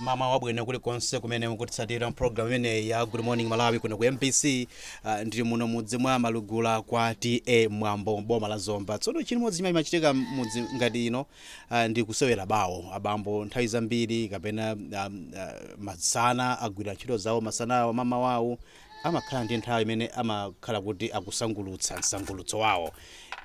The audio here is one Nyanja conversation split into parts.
mmawa wabwino kulikonse kumene mukutitsatira program imeneyi ya good morning malawi kuno ku mbc uh, ah, ndili muno mudzi mwa malugula kwa ta mwambo boma la zomba tsono chimodzi chimene chimachitika mudzi ngati ino uh, ndi kusewera bawo abambo nthawi zambiri kapena um, uh, masana agwira ntchito zawo masanawo mmawa wawo amakhala ndi nthawi imene amakhala kuti akusangulutsa msangulutso wawo.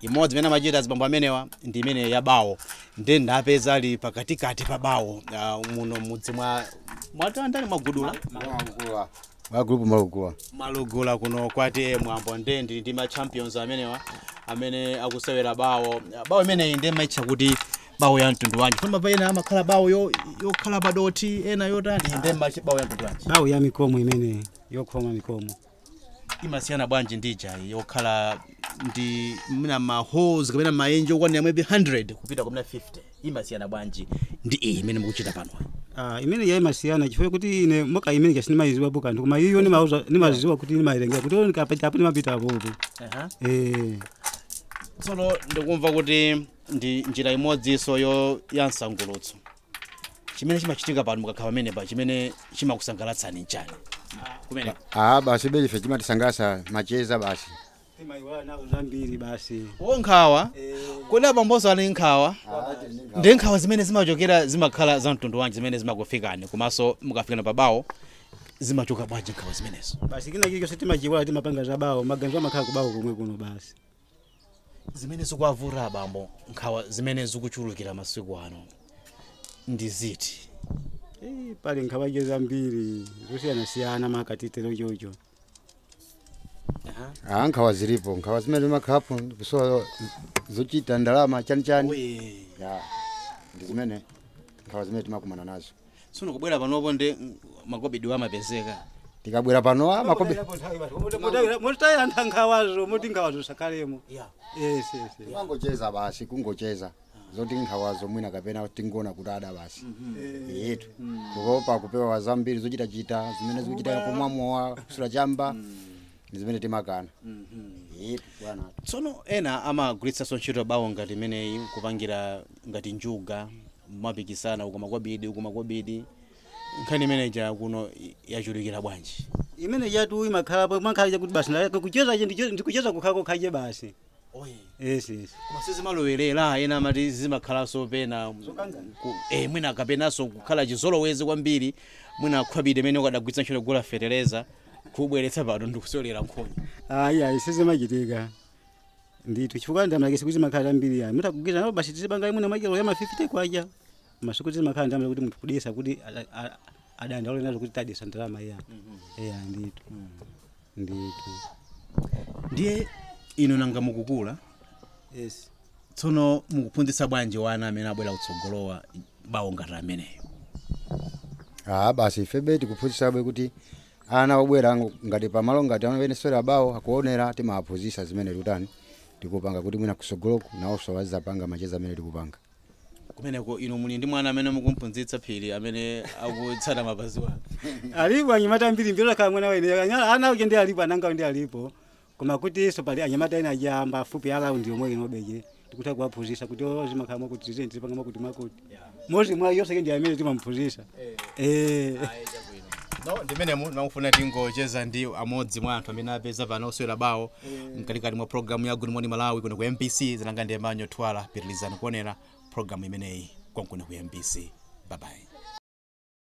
Imodzi imene amachita azibambo amenewa ndi imene ya bawo ndiye ndapeza ali pakatikati pa bawo ah, muno mudzi mwa mwatandani mwa gulupu Malugula. Gulupu malugula. malugula kuno kwa ta mwambo ndiye ndi ndi ma champions amenewa amene akusewera bawo bawo imeneyi ndiye mumaitcha kuti bawo ya mtundu wanji koma pena amakhala bawo yo- yokhala padothi ena yotani inde mumaitcha bawo ya mtundu wanji bawo ya mikomo imene yokhoma mikomo imasiyana bwanji ndi ija yokhala ndi mina maholes kapena maenje okwanira maybe 100 kupita kumina 50 imasiyana bwanji ndi iyi imene mukuchita pano Ah, imene ya imasiyana chifukwa kuti ine moka imene kasi sindimaiziwa po kanthu koma iyo nimauza- nimaziwa kuti nimawerengera kuti nikapita apo nimapita apopo Aha. eh tsono ndikumva kuti ndi njira imodzinso ya msangulutso chimene chimachitika pano mukakhala pamenepa chimene chimakusangalatsani nchani kumene Ah, basi be ife chimatisangalatsa macheza basi. timaiwala nazo zambiri basi o nkhawa kodi abamboso ali nkhawa ndi nkhawa zimene zimachokera zimakhala za mtundu wanji zimene zimakufikani komanso mukafikana pabawo zimachoka bwanji nkhawa zimenezo basi kina chilichonse timachiiwala timapanga zabawo maganizo amakhala kubawo komwe kuno basi zimene zikuwavuta abambo nkhawa zimene zikuchulukira masiku ano ndi ziti Eh, pali nkhawa zambiri zosiyanasiyana maka titero chocho Ah, nkhawa zilipo nkhawa zimene timakhalapo kusowa zochita ndalama chanichani Eya. ya ndi zimene nkhawa zimene timakumana nazo tsono kubwera panopo ndi makobidiwo amapezeka tikabwera pano ah, makobidi mumataya nkhawazo moti nkhawazo zisakhalemo yes yes yes. kungocheza basi kungocheza zoti nkhawazo mwina kapena tingona kuti ada basi yetu kukopa kupewa zambiri zochitachita zimene zikuchita kumwa mowa kusuta chamba ndi zimene timakana yetu bwana tsono ena amagwiritsanso ntchito bawo ngati imeneyi kupangira ngati njuga mumapikisana uko makobidi uko makobidi nkhani imeneja kuno i- yachulukira bwanji imene yatu imakhalapo mankhali chakuti basi na- kucheza je ndicho- ndikucheza kukhako khaje basi yes yes koma sizimalowerera ena amati zimakhalanso pena ku- eh, mwina kapenanso kukhala chizolowezi kwambiri mwina khobidi imene ukadagwiritsa ntchito kugula fetereza kubweretsa pano ndikusewera nkhonya ayi ayi sizimachitika ndithu chifukwa ndalamake sikuti imakhala zambiri ayi mutha kugwiritsa nawo basi tizipanga mwina mwachelo ya ma 50 kwacha masuku sizimakhala ndalama kuti munthu kuluza kuti ada- a- adandaule nazo kuti taluza ndalama iyayi eya ndithu ndithu ndiye inu nanga mukukula yes tsono mukuphunzitsa bwanji wana amene abwera kutsogolowa bawo ngati ameneyo ah basi ifebe tikuphunzitsabe kuti Ana obwera ngati pamalo ngati amene tikusewera bawo akuonera timawaphunzitsa zimene tikutani tikupanga kuti mwina kusogoloku nawoso azizapanga macheza amene tikupanga. Kumeneko inu muli ndi mwana amene mukumphunzitsa Phiri amene akutsata mapazi awo? Alipo anyamata ambiri mbiri olakhala mwana wa ine ana aja ndi alipo anangawo ndi alipo Koma kutinso pali anyamata ena aja apafupi around yomwe inobe tikutha kuwaphunzitsa kuti oh, zimakhala mwakuti tizeni tizipanga mwakuti mwakuti mmodzi mwa iwo Seke ndi amene timamuphunzitsa eh no ndimene munali kumva tikucheza ndi amodzi mwa anthu amene tapeza pano osewera bawo mkatikati mwa programu ya good morning malawi kuno ku mbc dzina langa ndi Emmanuel Thuwala pitilizani kuonera programu imeneyi konkuno ku mbc babayi